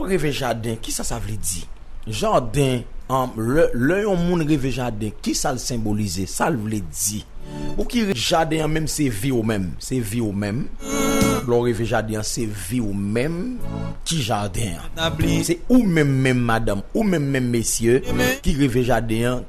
Ou reve jaden, kisa sa vle di? Jaden, An, lè, lè yon moun reve jaden, kisa l senbolize? Sa l vle di? Pou ki. Jaden an menm se vi w menm. Se vi w menm. Lè w reve jaden an, se vi w menm ki jaden an. Se ou menm menm madanm, ou menm menm mesye ki reve jaden an.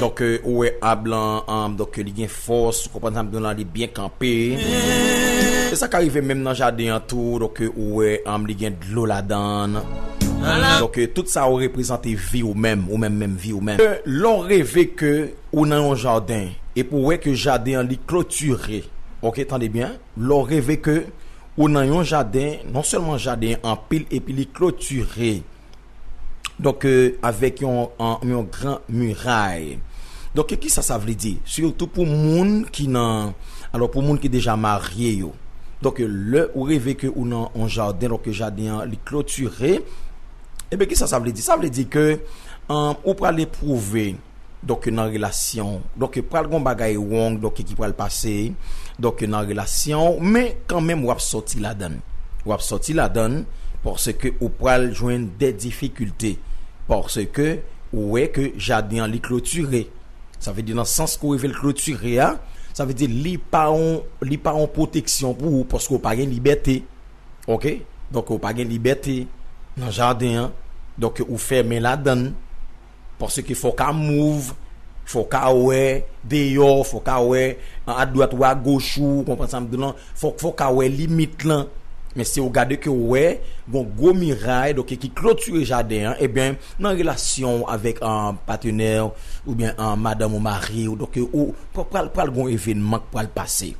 Donk ou wè ab lan an donk li gen fòs ou konprann sa m di w lan li byen kanpe e sa ka rive menm nan jaden an tou donk ou wè an li gen dlo ladan donk tout sa yo reprezante vi w menm ou menm menm vi w menm lè w reve ke ou nan yon jaden epi w wè ke jaden an li klotire ok tande byen lè w reve ke ou nan yon jaden non sèlman jaden an anpil epi li klotire. Donk, avèk yon gran miray. Donk, ki sa sa vle di? Sitou pou moun ki nan, alò pou moun ki deja marye yo. Donk, lè ou reve ke ou nan yon jaden, lò ke jaden an li klotire, e ben ki sa sa vle di? Sa vle di ke ou pral epwouve. donk nan relasyon donk pral gon bagay wong donk ki pral pase donk nan relasyon ou men kanmenm wap sòti ladann wap sòti ladann paske ou pral jwenn de difikilte paske ou wè ke jaden an li klotire sa vle di nan sans ke ou rive l klotire a sa vle di li pa yon li pa yon pwoteksyon pou ou paske ou pa gen libète ok donk ou pa gen libète nan jaden an donk ou fèmen ladann. Paske fò w ka move, fò w ka wè deyò, fò w ka wè a dwat ou a goch ou, ou konprann sa m di w lan, fò fò w ka wè limit lan. Men si w gade ke w wè gon gwo miray donk ki klotire jaden an eben nan relasyon w avèk patenè w oubyen madanm ou mari w donk ou pral pral gon evenman k pral pase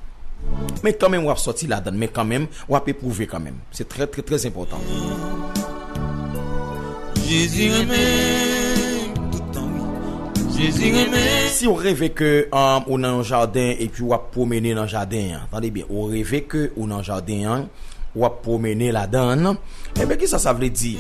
men kanmenm w ap sòti ladann men kanmenm w ap epwouve kanmenm. Se trè trè trè enpòtan. Jezi renmen tout tan wi Jezi renmen. Siw reve ke ou nan yon jaden epi wap pwomene nan jaden an tande byen ou reve ke ou nan jaden an wap pwomene ladann enben kisa sa vle di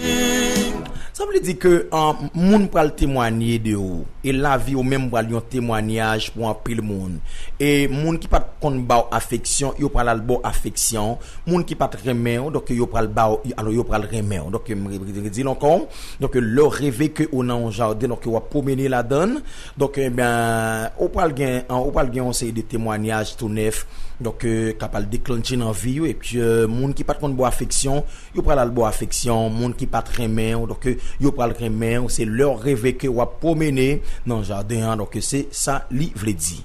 sa vle di ke moun pral temwanye de ou e lavi ou menm pral yon temwanyaj pou anpil moun e moun ki pat konn baw afeksyon yo pral al baw afeksyon Moun ki pat renmen w donk yo pral ba w alò yo pral renmen w donk m redi l ankò donk lè w reve ke ou nan yon jaden donk wap pwomennen ladan l donk ebyen ou pral gen ou pral gen yon seri de temwanyaj tou nèf donk kap al deklannche nan vi w epi moun ki pat konn ba w afeksyon yo pral al ba w afeksyon moun ki pat renmen w donk yo pral renmen w se lè w reve ke wap pwomennen nan jaden an donk se sa li vle di.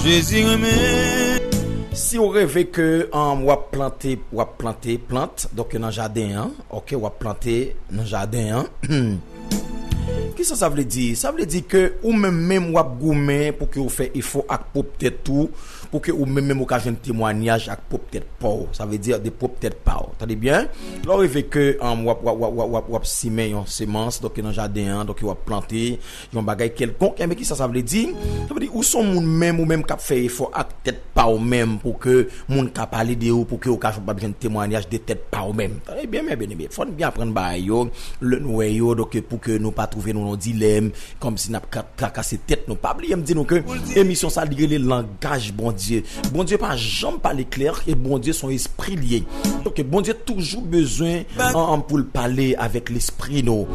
Jezi renmen. Siw reve ke wap plante wap plante plant donk nan jaden an ok wap plante nan jaden an kisa sa vle di sa vle di ke ou menm menm wap goumen pou ke ou fè efò ak pwop tèt ou pou ke ou menm menm ou ka jwenn temwanyaj ak pwop tèt paw sa vle di de pwop tèt paw tande byen lè ou reve ke wap wap wap wap wap wap simen yon semans donk nan jaden an donk wap plante Yon bagay kèlkonk, enben kisa sa vle di? Sa vle di ou son moun menm ou menm kap fè efò ak tèt paw menm pou ke moun ka pale de ou, pou ke ou ka jwenn pap jwenn temwanyaj de tèt paw menm. Tande byen mè byeneme, fò nou byen aprann bagay yo, lè nou wè yo, donk pou ke nou pa twouve nou nan dilèm, kòmsi nap ka trakase tèt nou. Pa bliye m di nou ke emisyon sa li rele langaj Bondye. Bondye pa janm pale klè, e Bondye son espri li ye. Donk Bondye toujou bezwen. An pou l pale avèk lespri nou.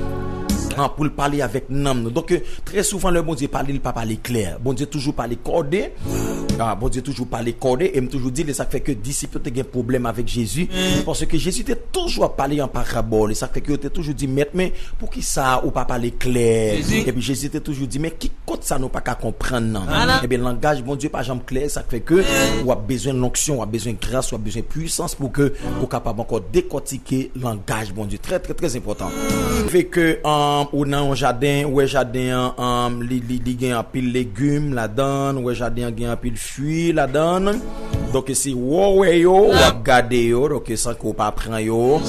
An pou l pale avèk nanm nou. Donk, trè souvan lè Bondye pale, li pa pale klè. Bondye toujou pale kòde. Bondye toujou pale kòde. E m toujou di l e sa k fè ke disip yo te gen pwoblèm avèk Jezi. Paske Jezi te toujou ap pale an parabòl. E sa k fè ke yo te toujou di, Mèt, men poukisa ou pa pale klè? Epi Jezi te toujou di, Men ki kot sa nou pa ka konprann nan? Ebyen langaj Bondye pa janm. klè, sa k fè ke ou ap bezwen lonksyon, ou ap bezwen gras, ou ap bezwen pwisans pou ke ou kapab ankò dekòtike langaj Bondye. Trè trè trè enpòtan. Fè ke ou nan yon jaden, ou wè jaden an li gen anpil legim ladan, ou wè jaden an gen anpil fwi ladan, donk se wè w wè yo, w ap gade yo, donk san ke w pa pran yo,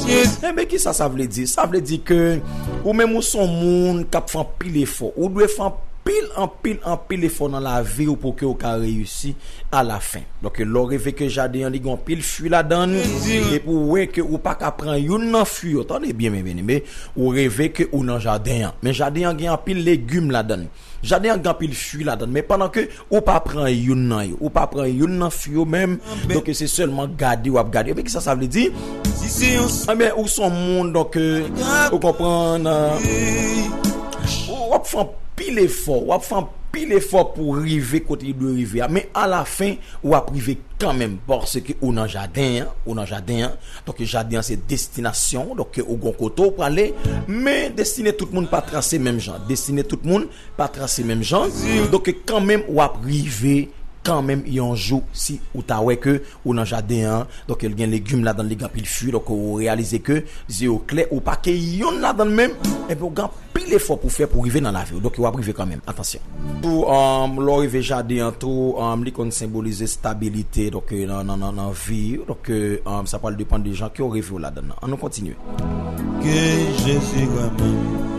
enben kisa sa vle di? Sa vle di ke ou menm ou s on moun k ap fè anpil efò, ou dwe fè anpil. Pil anpil anpil efò nan lavi ou pouki ou ka reyisi a la fen. Donk lè ou reve ke jaden an li gen anpil fwi ladann, epi ou wè ke ou pa ka pran youn nan fwi yo, tande byen men byen eme, ou reve ke ou nan jaden an, men jaden an gen anpil legim ladann, jaden an gen anpil fwi ladann, men pandan ke ou pa pran youn nan yo, ou pa pran youn nan fwi yo menm, donk se sèlman gade wap gade, men kisa sa vle di? Enben ou son moun donk ou konprann. Ou ap fè anpil efò, ou ap fè anpil efò pou w rive kote li dwe rive a, men a la fen ou ap rive kanmenm paske ou nan jaden an, ou nan jaden an, donk jaden an se destinasyon ou, donk ou gon kote ou prale, men destine tout moun pa trase menm jan, destine tout moun pa trase menm jan, donk kanmenm ou ap rive kanmenm yon jou si ou ta wè ke. ou nan jaden an donk li gen legim ladann li gen anpil fwi donk ou reyalize ke zye ou klè ou pa keyi yonn ladann menm enben ou gen anpil efò pou fè pou rive nan lavi ou donk yo ap rive kanmenm atansyon. Tou lè ou rive jaden an tou li konn senbolize stabilite donk nan vi donk sa pral depan de jan kew reve ou ladann nan an nou kontinye. Ke Jezi renmen nou.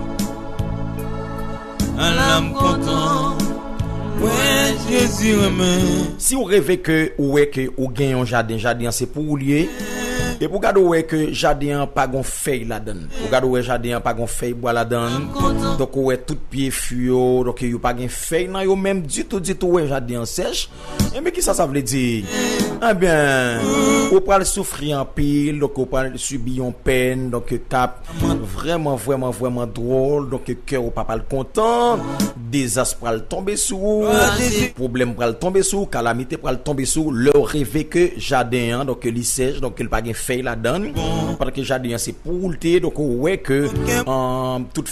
Ala m kontan mwen Jezi renmen. Siw reve ke ou wè ke ou gen yon jaden jaden an se pou ou li ye epi ou gade ou wè ke jaden an pa gon fèy ladann ou gade ou wè jaden an pa gon fèy bwa ladann donk ou wè tout pye fwi yo donk yo pa gen fèy nan yo menm ditou ditou ou wè jaden an sèch Enben kisa sa vle di? Enben ou pral soufri anpil, donk ou pral sibi yon pèn, donk kap vrèman vrèman vrèman dwòl, donk kè ou pa pral kontan, dezas pral tonbe sou ou, pwoblèm pral tonbe sou ou, kalamite pral tonbe sou ou, lè ou reve ke jaden an donk li sèch, donk li pa gen fèy ladann, padan ke jaden an se pou ou li te ye, donk ou wè ke tout.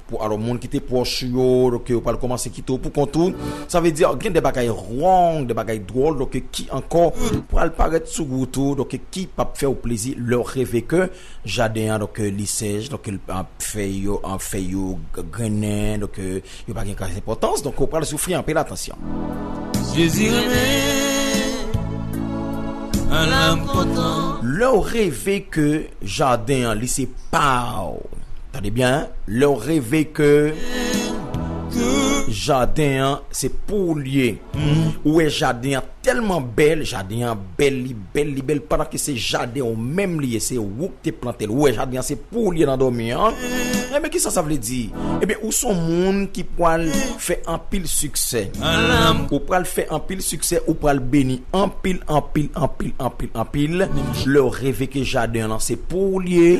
Pou alò moun ki te pwòch ou yo, ke yo pral kòmanse kite w poukont ou, sa vle di gen de bagay wrong, de bagay dwòl ki ankò pral parèt sou wout ou ki p ap fè w plezi lè w reve ke jaden an li sèch, fèy yo fèy yo grennen, yo pa gen gras enpòtans, donk ou pral soufri anpil atansyon. Jezi renmen, alanm kontan. Lè w reve ke. Jaden an li se paw. Tande byen hein, lèw reve ke Jaden an se pouw li ye, ou wè Jaden an tèlman bèl, Jaden an bèl li bèl li bèl pandan ke se Jaden ou menm li ye, se ou ki te plantel, ou wè Jaden an se pouw li ye nan dòmi an, enben kisa sa vle di? Enben ou son moun ki pwal fè anpil siksè. Ou pral fè anpil siksè ou pral beni anpil anpil anpil anpil anpil lèw reve ke jaden lan se pouw li ye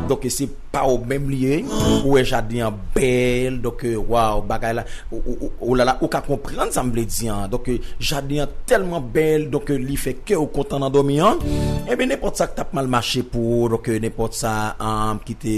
donk ke se paw menm li ye ou wè jaden an bèl donk ke waw bagay la ou lala ou ka konprann sam vle di an donk ke jaden an tèlman bèl donk ke li fè kew kontan nan dòmi an enben nenpòt sak tap mal mache pou ou donk ke nenpòt sa kite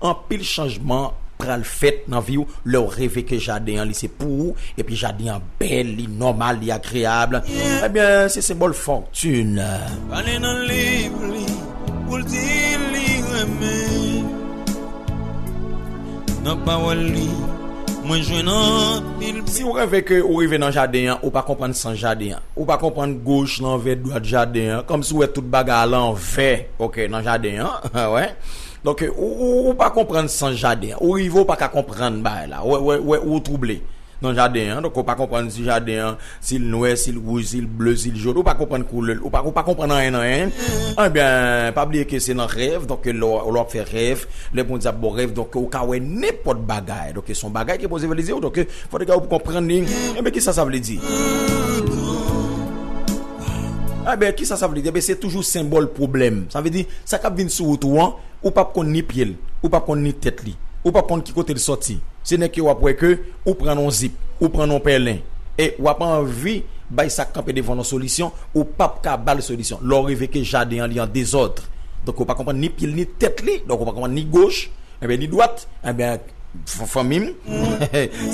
Anpil chanjman pral fèt nan viw lèw reve ke jaden an li se pou ou epi jaden an bèl li nòmal li agreyab ebyen se senbòl fòtune. Pale nan liv li poul di li renmen nan pawòl li mwen jwenn anpil. Siw reve ke ou rive nan jaden an ou pa konprann sans jaden an ou pa konprann goch lanvè dwat jaden an kòmsi ou wè tout bagay a lanvè ok nan jaden an wè. Donk ou pa konprann sans jaden an. Ou rive ou pa ka konprann bagay la. Ou twouble nan jaden an. Donk ou pa konprann si jaden an, si l nwè, si l wouj, si l ble, si l jòn. Ou pa konprann koulè l. Ou pa konprann anyen nan anyen. Enben, pa bliye ke se nan rèv. Donk lè w ap fè rèv, lè Bondye ap ba w rèv, donk ou ka wè nenpòt bagay. Donk se yon bagay ke Bondye vle di w. Donk fò w te gen pou w konprann li. Enben, kisa sa vle di? Enben, ki sa sa vle di? Enben, se toujou senbòl pwoblèm. Sa vle di, sa k ap vin sou wout ou an, ou p ap konn ni pye l, ou p ap konn ni tèt li, ou p ap konn ki kote l soti. Se nèk yo w ap wè ke ou pran nan yon zip, ou pran nan yon pèlen. E w ap anvi bay sa k kanpe devan w lan solisyon, ou p ap ka ba l solisyon. Lè w reve ke jaden an li an dezòd, donk ou pa konprann ni pye l ni tèt li, donk ou pa konprann ni goch, enben ni dwat, enben, Fanmi m,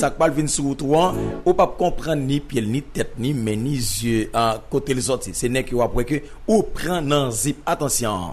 sa k pral vin sou wout ou an, ou pap konprann ni pye l, ni tèt, ni men, ni zye an kote l sòti. Se nèg yo w ap wè ke ou pran nan zip. Atansyon!